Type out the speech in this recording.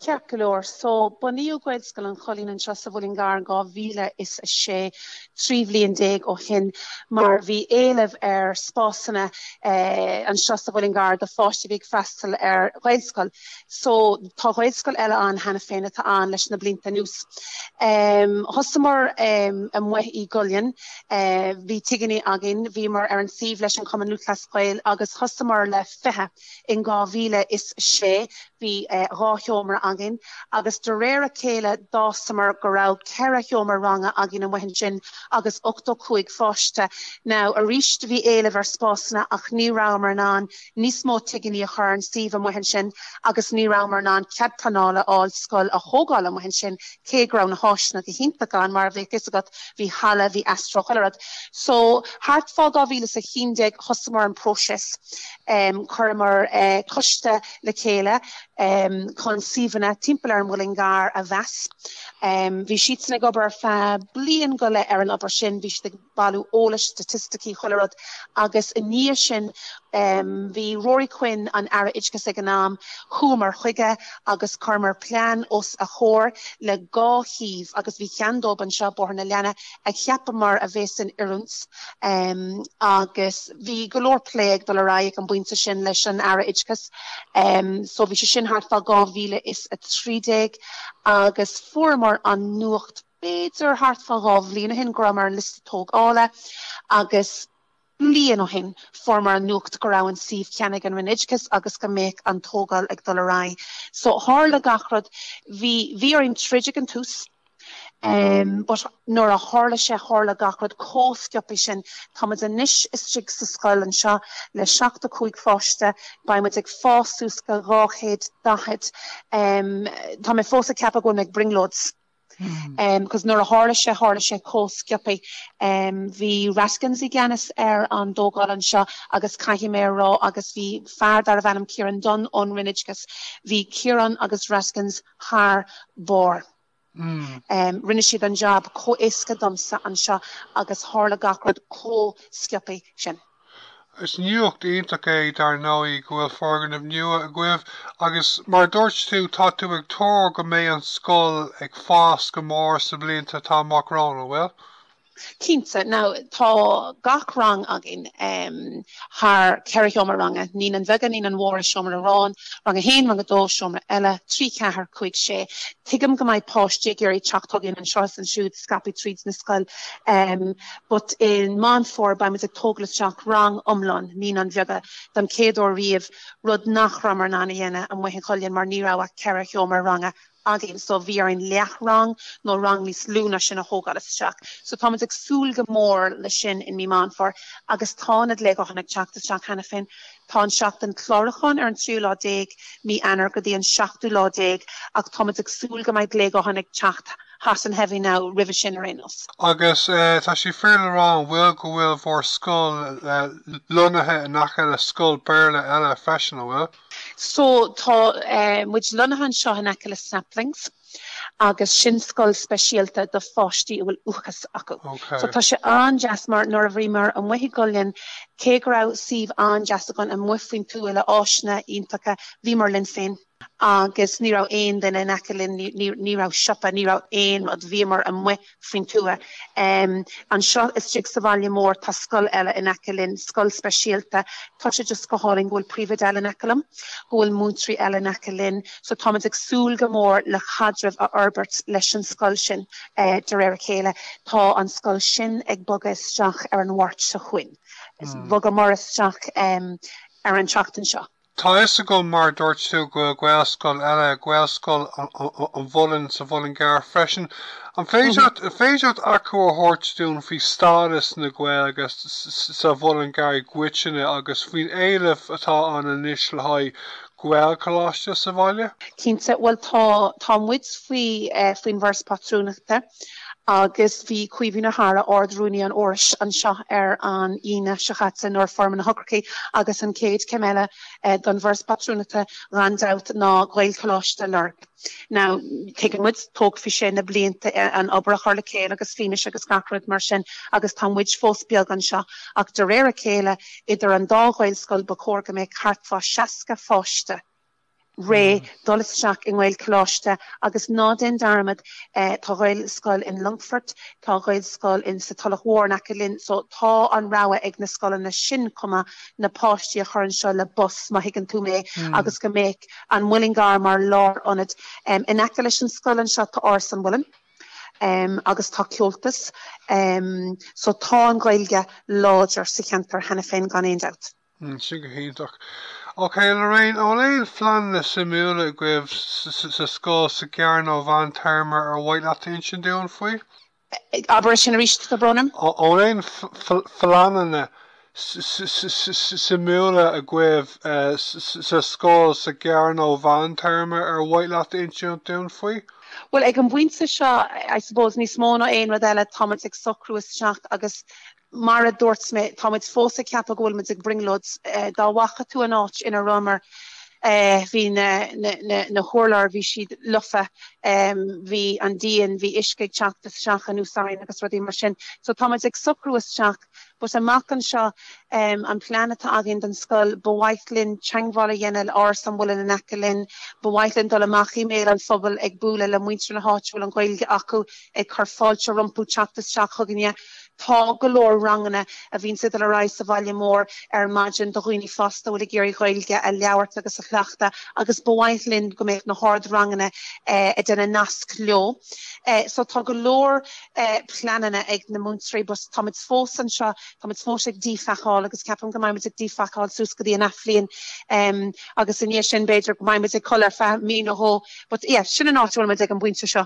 Ceart go leor, so bunaíodh Gaelscoil an Choillín anseo sa Mhuileann gCearr in 2006, trí bhliain déag ó shin, mar bhí éileamh ar spásanna anseo sa Mhuileann gCearr do pháistí a bhí ag freastal ar Ghaelscoil. So tá Gaelscoil eile ann cheana féin atá ann leis na blianta anuas. Thosamar amuigh í gCoillín, bhí tigíní againn, bhíomar ar an suíomh leis an Chumann Lúthchleas Gael agus thosamar le fiche, In 2006 bhí dhá sheomra againn agus de réir a chéile d'fhásamar go raibh ceithre sheomra ranga againn amuigh ansin agus ochtó cúig pháiste. Now arís bhí éileamh ar spásanna ach ní rabhamar in ann níos mó tigíní a chur ar an suíomh amuigh ansin agus ní rabhamar in ann cead pleanála a fháil scoil a thógáil amuigh ansin. Cé go raibh na háiseanna go hiontach ann, mar a bheadh fhios agat, bhí halla, bhí astro, chuile rud. So, thart fá 2011 thosaíomar an próiseas. Chuireamar coiste le chéile chun suíomhanna timpeall ar an Muileann gCearr a mheas. Bhí siadsan ag obair ar feadh bliain go leith ar an obair sin. Bhí siad ag. bailiú eolais, staitisticí, chuile rud agus i ndiaidh sin bhí Ruairí Quinn, an Aire Oideachais ag an am, chuamar chuige agus chuireamar plean os a chomhair le dhá shuíomh agus bhí ceann dóibh anseo, Bóthar na Lainne, a cheapamar a bheadh in oiriúint agus bhí go leor plé ag dul ar aghaidh ag an bpointe sin leis an Aire Oideachais so bhí sé sin thart fá 2013 agus fuaireamar an nuacht b'fhéidir thart fá dhá bhliain ó shin, go rabhamar ar an liosta tógála agus bliain ó shin fuaireamar an nuacht go raibh an suíomh ceannaithe ag an Roinn Oideachais agus go mbeadh an tógáil ag dul ar aghaidh. So tharla gach rud, bhí, bhí orainn troid ag an tús but nuair a tharla sé, tharla gach rud comh sciopaí sin. Tá muid anois istigh sa scoil anseo le seachtó cúig pháiste, beidh muid ag fás suas go dhá chéad daichead. Tá mé fós ag ceapadh go bhfuil mé ag brionglóid. Cos nuair a tharla sé tharla sé comh sciopaí. Bhí Raskins i gceannas ar an dtógáil anseo agus caithfidh mé a rá agus bhí fear darbh ainm Kieran Dunne ón Roinn Oideachais, bhí Kieran agus Raskins thar barr. Rinne siad an jab comh éasca domsa anseo agus tharla gach rud comh sciopaí sin. Is nuacht iontach é, dar ndóigh, go bhfuil foirgneamh nua agaibh agus, mar a dúirt tú, tá tú ag tuar go mbeidh an scoil ag fás go mór sa bhlianta atá amach romhainn, an bhfuil? Cinnte. Now, tá gach rang againn thar cheithre sheomra ranga, naíonáin bheaga, naíonáin mhóra, seomra amháin, rang a haon, rang a dó, seomra eile, trí, ceathair, cúig, sé. Tuigim go mbeidh páistí ag iarraidh teacht chugainn anseo is ansiúd, scaipthe tríd na scoile. but i Meán Fómhair beimid ag tógáil isteach rang iomlán Naíonáin Bheaga don chéad uair riamh, rud nach rabhamar in ann a dhéanamh amuigh in Cuileann mar ní raibh ach ceithre sheomra ranga againn so bhí orainn leath rang nó rang níos lú ná sin a thógáil isteach. So táimid ag súil go mór leis sin i mí Meán Fómhair agus tá na glaochanna ag teacht isteach cheana féin. Tá an tseachtain clárúcháin ar an tríú lá déag mí Eanáir go dtí an seachtú lá déag ach táimid ag súil go mbeidh glaochanna ag teacht hot and heavy now roimhe sin ar aon nós. Agus tá sé fíor le rá an bhfuil go bhfuil bhur scoil lonnaithe in aice le scoil Béarla eile freisin, an bhfuil? So tá muid lonnaithe anseo in aice le Saplings. agus sin scoil speisialta do pháistí a bhfuil uathachas acu. So tá sé an-deas mar nuair a bhíomar amuigh i gCuileann, cé go raibh suíomh an-deas againn amuigh faoin tuath le áiseanna iontacha, bhíomar linn féin agus ní raibh aon duine in aice linn, ní raibh siopa, ní raibh aon rud, bhíomar amuigh faoin tuath. Anseo istigh sa bhaile mór tá scoil eile in aice linn, scoil speisialta. Tá sé just go hálainn go bhfuil príomhoide eile in aice liom, go bhfuil múinteoirí eile in aice linn. So táimid ag súil go mór le caidreamh a fhorbairt leis an scoil sin de réir a chéile. Tá an scoil sin ag bogadh isteach ar an Mháirt seo chugainn. Bhogamar isteach ar an tseachtain seo. Tá fhios agam mar a dúirt tú go bhfuil Gaelscoil eile, Gaelscoil an Mhuilinn, sa Mhuileann gCearr freisin. An féidir leat achoimre a thabhairt dúinn faoi stádas na Gaeilge sa Mhuileann gCearr i gcoitinne agus faoin éileamh atá ann anois le haghaidh Gaelcholáiste sa bhaile? Cinnte. Bhuel tá tá muid faoi faoin bhForas Pátrúnachta. Agus bhí Caoimhín Ó hEaghra, Ard-Rúnaí an Fhorais, anseo ar an Aoine seo caite nuair a fuair mé na heochrachaí agus an chéad chéim eile don bhForas Pátrúnachta gan dabht ná Gaelcholáiste a lorg. Now, tuigeann muid, tógfaidh sé na blianta an obair a chur le chéile agus fianaise agus gach rud mar sin agus tá muid fós beag anseo ach de réir a chéile, idir an dá Ghaelscoil, ba chóir go mbeadh thart fá 60 pháiste. réidh dul isteach i nGaelcholáiste agus ná déan dearmad eh, tá Gaelscoil in Longfort, tá Gaelscoil in sa Tulach Mhór in aice linn, so tá an rogha ag na scoileanna sin chomh maith na páistí a chur anseo le bus má thuigeann tú mé hmm. agus go mbeidh an Muileann gCearr mar lár ionad. Em, in aice leis an scoil anseo tá Áras an Mhuilinn um, agus tá Comhaltas um, so tá an Ghaeilge láidir sa cheantar cheana féin gan aon dabht. Mm, sin go hiontach. Ok, Lorraine, an bhfuil aon phleananna suimiúla agaibh sa scoil, sa ghearr nó mheán téarma ar mhaith leat insint dúinn faoi? Abair sin arís, a Brónagh. An bhfuil aon phleananna suimiúla agaibh sa scoil, sa ghearr nó mheán téarma ar mhaith leat insint dúinn faoi? Bhuel, ag an bpointe seo, I suppose, níos mó ná aon rud eile, táimid ag socrú isteach agus Mar a dúirt mé, tá muid fós ag ceapadh go bhfuil muid ag brionglóid. Dá bhfaca tú an áit ina rabhamar, bhí na hurláir, bhí siad lofa, bhí an díon, bhí uisce ag teacht isteach anuas orainn agus rudaí mar sin. So tá muid ag socrú isteach. But amach anseo, an plean atá againn don scoil, ba mhaith linn teagmháil a dhéanamh le Áras an Mhuilinn in aice linn, ba mhaith linn dul amach i mbéal an phobail ag bualadh le muintir na háite a bhfuil an Ghaeilge acu, ag cur fáilte rompu teacht isteach chugainne. Tá go leor ranganna a bhíonns ag dul ar aghaidh sa bhaile mór ar maidin do dhaoine fásta a bhfuil ag iarraidh Gaeilge a labhairt agus a chleachtadh agus ba mhaith linn go mbeadh na hardranganna ag déanamh nasc leo. So tá go leor pleananna ag na múinteoirí but tá muid fós anseo, tá muid fós ag díphacáil agus ceapaim go mbeidh muid ag díphacáil suas go dtí an athbhliain agus i ndiaidh sin b'fhéidir go mbeidh muid ag codladh ar feadh mí nó dhó but yeah sin an áit a bhfuil muid ag an bpointe seo.